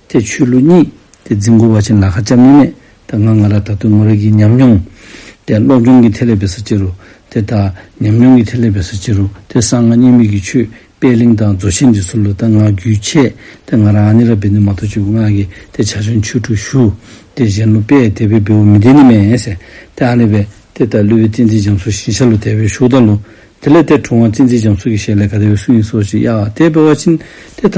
དེ་ཆོས་ལུགས་གཉིས་དེ་འཛིན་འགོ་བ་ཆེན་ལ་ཧ་ཅང་མི་མེད་ད་ང་ང་ལ་ད་དུ་ངོ་རེ་གི་ཉམས་མྱོང། དེ་སློབ་སྦྱོང་གི་ཐད་ལས་བེད་ས་ཅི་རུ་དེ་ད་ཉམས་མྱོང་གི་ཐད་ལས་བེད་ས་ཅི་རུ་དེ་སང་ང་གཉིས་མིག་གི་ཆོས་དཔལ་གླིང་དང་རྫོ་ཆེན་འདི་ཚུར་ལ་ད་ང་རྒྱུད་ཆད་དེ་ང་རང་ཨ་ནི་ར་བེད་ནི་མ་ཐོ་ཆུ་ང་གི་དེ་བྱ་ཆོན་ཆུ་ཁྲུ་ཞུ་དེ་གཞན་ལོ་པས་དེ་བེད་བེད་བོ་མི་དེ་ནི་མེད་ཨེ་སེ་དེ་ཨ་ནི་བེད་དེ་ད་ལུས་བེད་བཙན་འཛིན་འཇམ་སོ་ཞིན་ཤ་ལོ་དེ་བེད་ཞུགས་ད་ལོ་དེ་ལས་དེ་གྲོང་བ་བཙན་འཛིན་འཇམ་སོ་གི་ཞལ་ལས་ག་དེ་བེད་སུ་ཡིན་སོ་ཅི་ཡ་དེ་བེད་བ་ཆིན་དེ་ད་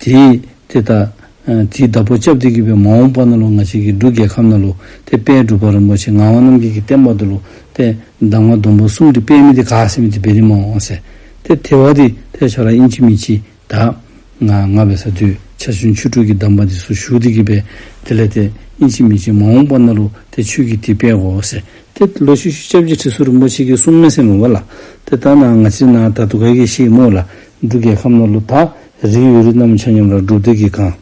དེས་དེ་ལྟ། དེའི་བདག་པོ་ཅབ་ཏི་གི་བའི་མ་འོངས་པ་ན་ལོ་ང་བྱེད་ཀྱི་འབྲུ་རྒྱལ་ཁམས་ན་ལོ་སྟེ་དཔལ་སྒྲུབ་པ་རིན་པོ་ཆེ་ངག་དབང་རྣམ་རྒྱལ་གྱི་བསྟན་པ་དུ་ལོ་སྟེ་གདམས་ངག་སྡོམ་པོ་གསུམ་དུ་དཔལ་མི་དེ་དགའ་སེམས་དེ་བེ་རི་མ་འོངས་སེ། སྟེ་དེ་བ་དེ་ཐལ་ཆོག་ར་དབྱིན་ཇི་མི་ཇི་དག། ང་ང་བའི་ས་དུས་ཆ་བཞིན་ཆུ་དྲུག་གི་གདམས་པ་དེ་སུ་ཞུགས་དེ་གི་བས་དེ་ལས་དེ་དབྱིན་ཇི་མི་ཇི་མ་འོངས་པ་ན་ལོ་སྟེ་ཆོས་ཀྱི་དེ་དཔལ་གོ་སེ། སྟེ་ལོ་ཤུ་ཤུ་ཅབ་ཅི་ཁྲི་སུ་རིན་པོ་ཆེ་གི་གསུང་སྨྲས་སེ་མོ་བ་ལ། དེ་ལྟ་ན་ང་ཅི་ན་ད་དུ་ག་གི་ཤེས་མོ་ལ་འབྲུ་རྒྱལ་ཁམས་ན་ལོ་དག་རིགས་ཡོད་རིགས་རྣམས་ཆ་མཉམ་རང་གྲོལ་དུས་ཀྱི་གང།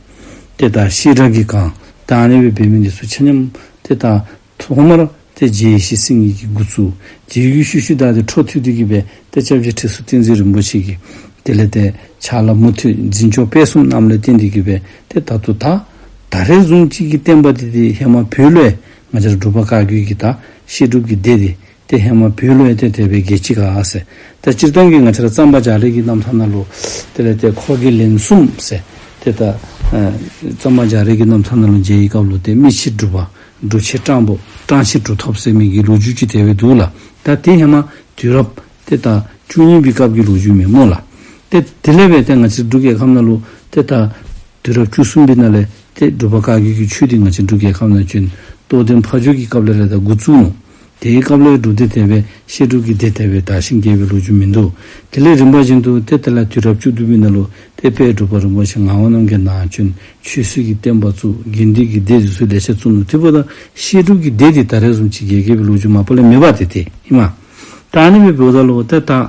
དེ་དག་ཤེས་གྲགས་ཀྱི་གང་དང་གནས་པའི་བེད་མེད་འདི་སུ་ཆ་མཉམ། དེ་དག་ཐོག་མར་དེ་རྗེས་ཡེ་ཤེས་སེམས་གཉིས་ཀྱི་དགུ་ཚུགས། རྗེས་ཡུལ་ཤུལ་ཤུལ་དག་དེ་འཕྲོ་མཐུད་དུས་ཀྱི་བས་ཏེ་ལྕགས་བྱི་ཁྲི་ཟུར་ཏིང་འཛིན་རིན་པོ་ཆེ་གི། དེ་ལས་དེ་ཆགས་ལ་མུ་མཐུད་འཛིན་མཆོག་དཔལ་གསུམ་རྣམས་ལས་རྟེན་འདི་གི་བས་ཏེ་ད་དུ་དག། ད་རེས་གཟུངས་གཅིག་གིས་བསྟན་པ་འདི་དེ་ཧེ་མ་བུས་ལས་ང་ཅར་སྒྲུབ་པ་བཀའ་བརྒྱུད་ཀྱི་དག་ཤེས་སྒྲུབ་ཀྱི་སྡེ་དེ་ཏེ་ཧེ་མ་བུའི་བློ་ཡེ་གཏད་དད་པའི་རྒྱལ་ཆེ་ག་ཨ་ཟེ། དེ་སྤྱིར་བཏང་གི་ང་ཆེར་བརྩམས་པ་འཇག་རིགས་ཀྱི་རྣམ་ཐར་ན་ལུ། དེ་ལས་དེ་འཁོར་གྱི་ལན་གསུམ་ཟེར། དེ་ལྟར། བརྩམས་པ་འཇག་རིགས་ཀྱི་རྣམ་ཐར་ན་ལུ་འཇལ་ཡི་སྐབས་ལུ་དེ་རྨིས་ཕྱིར་སྒྲུབ་པ། སྒྲུབ་བྱེད་སྤྲང་པོ། སྤྲང་ཕྱིར་གྲུ་ཐོབ་ཟེར་མིང་གི་ལོ་རྒྱུས་ཀྱི་དེ་བས་འདུག་ལ། ད་དེ་ཧེ་མ་དུས་རབ། དེ་ལྟར། བཅུ་གཉིས་པའི་སྐབས་ཀྱི་ལོ་རྒྱུས་མེད་སྨོས་ལ། ཏེ་དེ་ལས་བས་དེ་ང་ཆེར་འབྲུག་རྒྱལ་ཁམས་ན་ལུ། དེ་ལྟར། དུས་རབ་བཅུ་གསུམ་པའི་ན་ལས། ཏེ་སྒྲུབ་པ་བཀའ་བརྒྱུད་ཀྱི་ཆོས་དེ་ང་ཆེར་འབྲུག་རྒྱལ་ཁམས་ན་བྱོན། རྟོགས་ལྡན་ཕ་ཇོ་གྱི་སྐབས་ལས་རེ་དང་དགུ་བཙུན་ནོ། དེའི་སྐབས་ལས་སྒྲུབ་སྡེ་དེ་བས་བཤད་སྒྲུབ་ཀྱི་སྡེ་དེ་བས་དག་ཞིང་རྒྱས་པའི་ལོ་རྒྱུས་མི་འདུག་དེ་ལས་རིམ་པ་བཞིན་དུ་སྡེ་དེ་ལ་དུས་རབས་བཅུ་བདུན་པའི་ནང་ལུགས་སྡེ་དཔལ་སྒྲུབ་པ་རིན་པོ་ཆེ་ངག་དབང་རྣམ་རྒྱལ་ནང་བྱོན་ཆོས་སྲིད་ཀྱི་བསྟན་པ་བཙུགས་དགེ་འདུན་གྱི་སྡེ་རིས་སུ་ལས་བྱེད་གཙོ་མོ་ཐི་བོ་དང་བཤད་སྒྲུབ་ཀྱི་སྡེ་དེ་དག་རེ་ཟུང་ཕྱི་རྒྱལ་རྒྱལ་བའི་ལོ་རྒྱུས་མང་པོ་ལས་མེད་པ་དེ་དེ་ཡིན། མ་ཏཱ་ནི་བའི་བུ་བདག་ལོ་ཏའི་སྟག།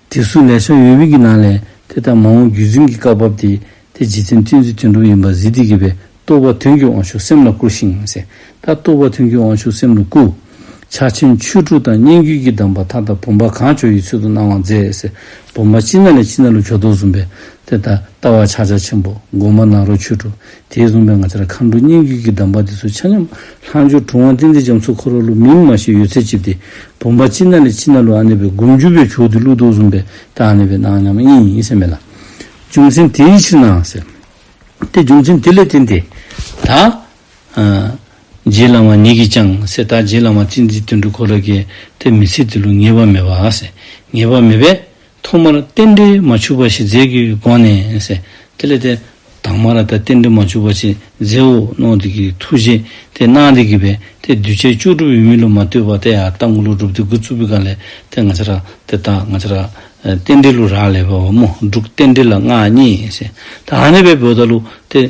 དེ་སུ་ལས་ཤ་ཡོས་བིད་ཀྱི་ནང་ལས་དེ་ལྟར་མང་བོ་རྒྱུད་འཛིན་གྱི་བཀའ་བབས་ཏེ་དེ་རྗེ་བཙན་བཙན་ཚུལ་དོན་གྲུབ་ཡིན་པ་གཟིགས་ཏེ་གྱི་བའི་རྟོགས་པ་དོན་གྱི་དབང་ཕྱུག་སེམས་ལ་བསྐུར་ཞིང་གཟེངས་རྟགས་རྟོགས་པ་དོན་གྱི་དབང་ཕྱུག་སེམས་ལ་བསྐུར། ཕྱག་ཆེན་ཆོས་དྲུག་དང་སྙན་བརྒྱུད་ཀྱི་གདམས་པ་མཐའ་དག་བུམ་པ་གང་བྱོ་ཡི་ཚུལ་དུ་གནང་བར་མཛད། བུམ་པ་སྤྱི་ན་ལས་སྤྱི་ན་ལུགས་ཕྱོགས་མདོ་གསུམ་པའི་དེ་ལྟར་ལྟ་བ་ཕྱག་ཆ་ཆེན་པོ་སྒོ་མ་ནག་རོ་ཆོས་དྲུག་དེས་བཟུང་པའི་ང་ཚ་ར་མཁའ་འགྲོ་སྙན་བརྒྱུད་ཀྱི་གདམས་པ་འདི་ཚོ་ཆ་མཉམ་ལྷག་འབྱོར་གྲུབ་དབང་བསྟན་འཛིན་རྒྱ་མཚོ་འཁོར་བ་ལུགས་མིང་མ་ཞིག་ཡོད་ཚད་བཅིབས་ཏེ་བུམ་པ་སྤྱི་ན་ལས་སྤྱི་ན་ལུགས་ཨ་ནེ་བའི་སྒོམ་རྒྱུད་པས་བྱུགས་ཏེ་ཀླུ་གདུག་བཟུང་པས་ད་ཨ་ནེ་བའི་གནང་སྙམ་ཨེ་ཡིན་སེམས་མེད་ལ། རྒྱུ་མཚན་དེའི་ཕྱིར་ནའང་ཟེར། དེ་རྒྱུ་མཚན་དེ་ལས་བསྟན་ཏེ། ད་རྗེ་བླ་མ་ཉིད་ཀྱིས་ཀྱང་ཟེར་ད་རྗེ་བླ་མ་བསྟན་འཛིན་དོན་གྲུབ་འཁོར་རབ་རྒྱལ་དེ་མི་ཚེ་འདི་ལུགས་ངེས་པ་མེད་པ་ཟེར་ངེས་པ་མེད་པས་ཐོག་མར་རྟེན་འབྲེལ་མ་འཆུགས་པ་ཞིག་མཛད་ཀྱི་སྒོ་ནས། དེ་ལས་དེ། དྭངས་མ་ར་ད་རྟེན་འབྲེལ་མ་འཆུགས་པ་ཞིག་མཛད་འོ་ནོ་འདི་ཀྱི་ཐུགས་རྗེ་དེ་གནང་འདི་གི་བས་དེ་གདུལ་བྱའི་སྤྱོད་སྒྲུབ་ཡུལ་མི་ལུ་མ་ལྟོས་པ་དེ་ཡ་ལྟ་མགུ་ལུ་སྒྲུབ་དེ་དགུ་གཙུག་ཕུད་ག་ལས་དེ་ང་ཆ་ར་དེ་ལྟ་ང་ཆ་ར། རྟེན་འབྲེལ་ལུ་རག་ལས་པའོ་མོ་འབྲུག་རྟེན་འབྲེལ་ལ་མངའ་བརྙེས། ད་ཧ་ནེ་པའི་བོད་ད་ལུ་དེ་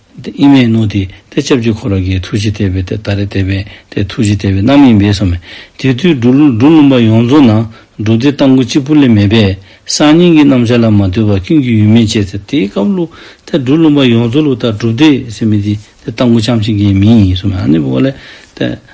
ཏེ་ཨི་མའི་ནོ་ཏི་ཏེ་ཅབ་ཅིག་འཁོར་བ་ཀའི་ཐུགས་རྗེ་ལྟེ་བའི་ཏེ་ཏཱ་རེ་ལྟེ་བའི་ཏེ་ཐུགས་རྗེ་ལྟེ་བའི་རྣམ་གཡེང་བས་སོ་མེ་དེ་དུས་འབྲུ་སྣུམ་པ་ཡོངས་རྫོགས་ན་འབྲུ་དེ་ལྟ་མགུ་གཅིག་པུ་ལས་མེད་པས་སང་ཉིན་གྱི་རྣམ་བཞག་ལ་མ་ལྟོས་པར་ཀུན་གྱི་ཡུལ་མིན་ཅེས་ཏེ་དེའི་སྐབས་ལུག་ཏེ་འབྲུ་སྣུམ་པ་ཡོངས་རྫོགས་ལུག་ལྟར་གྲུབ་སྟེ་སེམས་མེ་དེ་ཏེ་ལྟ་མགུ་ཕྱམ་ཤིང་གའི་མིང་ཡིན་སོ་མེ་ཨ་ནི་བུ་བ་ལས་ཏེ།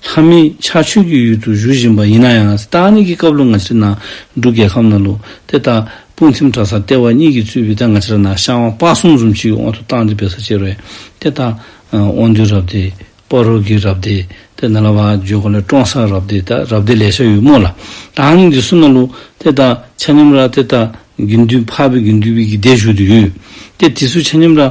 ལྷ་མི་ཆགས་ཆོས་ཀྱི་ཡུལ་དུ་བཞུགས་བཞིན་པ་ཡིན་ན་ཡང་ས་ཏྭ་ནི་གི་སྐབས་ལོ་ང་ཕྱི་ན་འབྲུག་རྒྱལ་ཁམས་ན་ལུག་དེ་དག་དཔུང་ཚིམ་གྲ་སར་སྟེར་བ་གཉིས་ཀྱི་གཙོས་བི་ཏཱ་ང་ཕྱི་ར་ན་ཤང་བ་དཔའ་གསུམ་གསུམ་གཅིག་གི་དབང་དུ་བཏང་སྟེ་བེ་སར་ཅེར་བས་དེ་ལྟ། དབང་འདུས་རབ་སྡེ། པཱ་རོ་གིའི་རབ་སྡེ། དེ་ན་ལ་བ་ཇོ་གོ་ལའི་ཀྲོང་སར་རབ་སྡེ་དང་རབ་སྡེ་ལས་ཤ་ཡུ་མོ་ལ་ཏྭ་ནི་གི་སུ་ན་ལུག་དེ་དག་ཆ་མཉམ་ར་དེ་དག་གི་འདུས་འཕགས་བི་གི་འདུས་བི་གི་སྡེར་བཞུགས་དུ་ཡོད་དེ་དེ་སུ་ཆ་མཉམ་ར་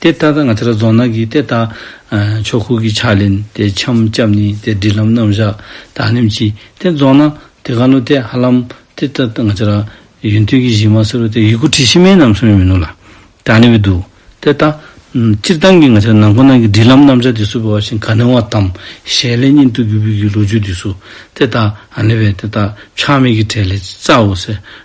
དེ་ལྟར་ན་ང་ཚེ་ར་རྫོང་ནགས་ཀྱི་ལྟེ་བརྟག་ཕྱོགས་ཁུག་གི་ཕྱག་ལེན་དེ་འཆམ་སྐྱབས་ནི་དེ་སྒྲིག་ལམ་རྣམ་བཞག་དག་ལེན་གྱིས་དེ་རྫོགས་ན་དེ་ག་ནུ་དེ་ཧ་ལམ་དེ་ལྟར་ན་ང་ཚེ་ར་ཡུན་ཐུན་གྱི་གཞི་མ་སེར་བོ་དེ་ཡིག་གུ་ཁྲི་ཕྱི་མའི་ནམ་སོང་ཡོད་མི་ནུ་ལ་དག་ནི་བས་འདུག་དེ་ལྟ་ན་སྤྱིར་བཏང་གི་ང་ཚེ་ར་ནང་ཁོ་ན་གྱི་སྒྲིག་ལམ་རྣམ་བཞག་དེ་སུ་བས་བ་བཞིན་ག་ནུ་བ་དམ་ཞལ་ལས་སྙིང་སྟོབས་ཀྱི་དབུས་ཀྱི་ལོ་རྒྱུས་དེ་སུ་དེ་དག་ནི་བས་དེ་དག་ཆགས་མེད་ཀྱི་གྲས་ལས་རྩ་བའོ་ཟེར།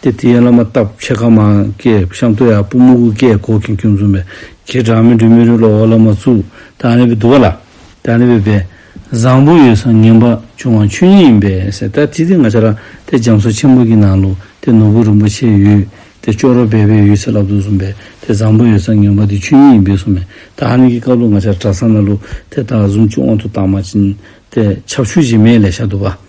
ཏེ་དེ་ཡན་བླ་མ་སྟབས་ཆེ་ཁ་མང་སྐད་བཤམས་ཏོ་ཡག་པོ་སྨུ་གུ་སྐད་གོ་གིན་ཀུན་འཛོམས་པའི་ཁྱེད་གྲངས་མེད་འགྲོས་མི་རུས་ལོག་འོག་བླ་མ་གཙུག་དང་ནི་བི་དུ་བ་ལ་དང་ནི་བི་བའི་བཟང་པོ་ཡོད་སང་ངན་པ་བྱུང་བ་ཆོས་ཉིད་ཡིན་པས་སེ་ད་དེ་དེ་ང་ཆ་ར་དེ་རྒྱ་མཚོ་ཆེན་པོ་གི་ནང་ལུག་དེ་ནོར་བུ་རིན་པོ་ཆེ་ཡོད་དེ་ཅོག་རོ་སྦས་པའི་ཡོད་ཚད་ལབ་འདུག་གསུངས་པས་དེ་བཟང་པོ་ཡོད་སང་ངན་པ་དེ་ཆོས་ཉིད་ཡིན་པས་གསུངས་མེད་དང་ནི་གི་ཀ་ལུག་ང་ཆ་ར་གྲ་སང་ན་ལུག་དེ་དག་གཟུང་ཅི་འོང་དུ་བཏང་མ་ཅིན་ཏེ་ཆབ་ཆུ་བྱེ་མའི་ལས་ཤ་དུ་བ།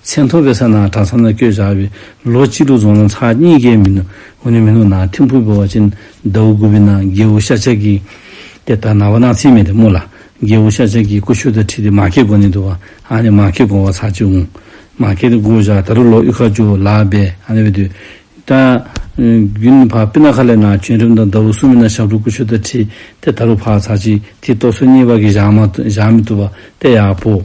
མཚན་མཐོ་བའི་ས་ན་གྲྭ་ཚང་ནང་བསྐྱོད་བཞག་པའི་ལོ་གཅིག་དྲུག་རྫོང་ན་ཚ་གཉིས་ཀའི་མི་ནུབ་ངོ་ནས་མི་ནུབ་ན་ཐིམ་ཕུར་བོར་བ་ཅན་ཟླ་བོ་དགུ་པའི་ནང་རྒྱལ་བོ་ཤ་ཆག་གིས། དེ་ལྟར་ན་བ་ན་ཚིག་མེད་དེ་སྨོས་ལ། རྒྱལ་བོ་ཤ་ཆག་གིས་ཀུ་ཤུ་དང་ཁྲིད་དེ་མ་སྐད་དགོན་ནས་འདུག་ཨ་ནི་མ་སྐད་དགོན་བ་ཚར་གཅིག་འོང། མ་སྐད་དེ་དགོས་བཞག་ད་རུ་ལོ་དབྱུག་ཁ་ཅུ་ལ་སྦས་ཨ་ནི་བས་དུས་ད། རྒྱུན་བར་པི་ན་ཁ་ལས་ན་བྱོན་རིམ་དང་ཟླ་བོ་གསུམ་མི་ན་ཞབས་བྲོ་ཀུ་ཤུ་དང་ཁྲིད་དེ་ད་རུ་བར་ཚར་གཅིག་དེའི་ཏོག་སོ་གཉིས་བར་གྱི་བཞག་མ་བཞག་མི་ཐུབ་པ་དེ་ཡག་པོ།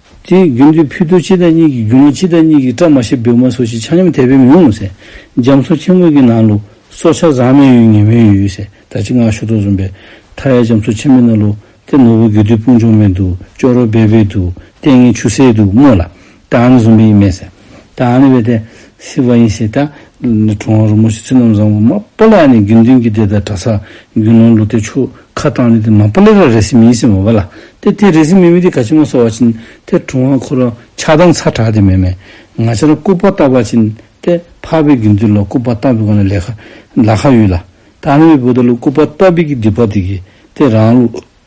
དེའི་རྒྱུ་མདོའི་ཕུ་དུ་ཕྱི་དར་གཉིས་ཀྱི་རྒྱུ་ནོར་ཕྱི་དར་གཉིས་ཀྱི་བཀྲག་མ་ཤེས་བེའུ་མ་སོགས་ཤིག་ཆ་སྙོམས་དད་པའི་མིང་ངོ་ཟེར། རྒྱ་མཚོ་ཁྱིམ་དབུས་ཀྱི་ནང་ལུགས་སྲོག་ཆགས་བཟང་མོའི་ཡུལ་ངན་མོའི་ཡུལ་ཟེར་ད་ཅི་ངག་ཤུ་ཏོག་འཛོམས་པས། མཐའ་ཡས་རྒྱ་མཚོ་ཆེན་མོའི་ནང་ལུགས་དེ་ནོར་བུ་དགེ་འདུན་སྤུན་ཆུང་མའི་འདུག་ཅོག་རོ་སྦལ་པའི་འདུག་ལྟས་ངན་ཆུ་སེར་འདུག་སྨོས་ལ། ད་ཨ་ནི་འཛོམས་པ་ཡིན་མེད་ཟེར། ད་ཨ་ནི་བས་ཏེ་སི་བ་ཡིན་ཞེས་ད་གྲོང་བ་རུ་མོ་ཤི་ཚུལ་རྣམས་བཟང་བོ་མ་པོ་ལ་ནི་དགེ་འདུན་གྱི་སྡེ་དང་གྲྭ་ས་རྒྱུ་ནོར་ལུག་སྟེ་ཆུ་ཁ་བཏང་ནས་ཏེ་མ་པོ་ལེ་ར་རེ་སི་མི་ཡིན་སི་མ་བ་ལ་ཏེ་དེ་རེ་སི་མི་མི་ཏེ་ག་ཅི་མ་སོ་བ་བྱིན་ཏེ་གྲོང་བ་འཁོར་རོ་ཆགས་སྡང་ཚ་དྲག་ཏེ་མེ་མེ་ང་ཆ་ལ་སྐུ་པ་བཏབ་པ་བྱིན་ཏེ་འཕགས་པའི་དགེ་འདུན་ལ་སྐུ་པ་བཏབ་པའི་གོང་ནས་ལས་ཁ་ལ་ཁ་ཡོད་ལ་ད་ཨ་ནི་བས་བུ་ད་ལུ་སྐུ་པ་བཏབ་པའི་གི་འདི་པ་དེ་གི་ཏེ་རང་ལུག།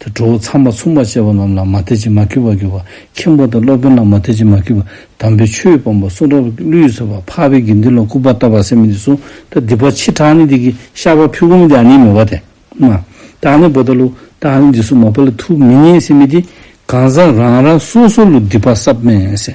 དེ་གྲོགས་ཚང་མ་ཚུགས་མ་བྱས་པ་རྣམས་ལ་མ་དད་ཅིང་མ་འཁྱུད་པར་གྱུར་པ། མཁན་པོ་དང་སློབ་དཔོན་ལ་མ་དད་ཅིང་མ་འཁྱུད་པ། དམ་པའི་ཆོས་སྤངས་པ་གསུང་རབ་ཀླུའི་སྲོལ་བ་འཕགས་པའི་དགེ་འདུན་ལ་སྐུར་པ་བཏབ་པར་སེམས་མི་དེ་གསུང་ད་སྡིག་པ་ཕྱི་དྲག་ནི་དེ་གི་ཤ་བ་ཕུལ་གོམས་དེ་ནི་མོ་བ་དེ་མ་དག་ནི་བོ་ད་ལུ་དག་ནི་འདི་གསུང་མ་བོ་ལ་ཐུགས་མི་མཉེས་སེམས་མི་དེ་གང་ཟག་རང་རང་སོ་སོ་ལུ་སྡིག་པ་སྲབ་མས།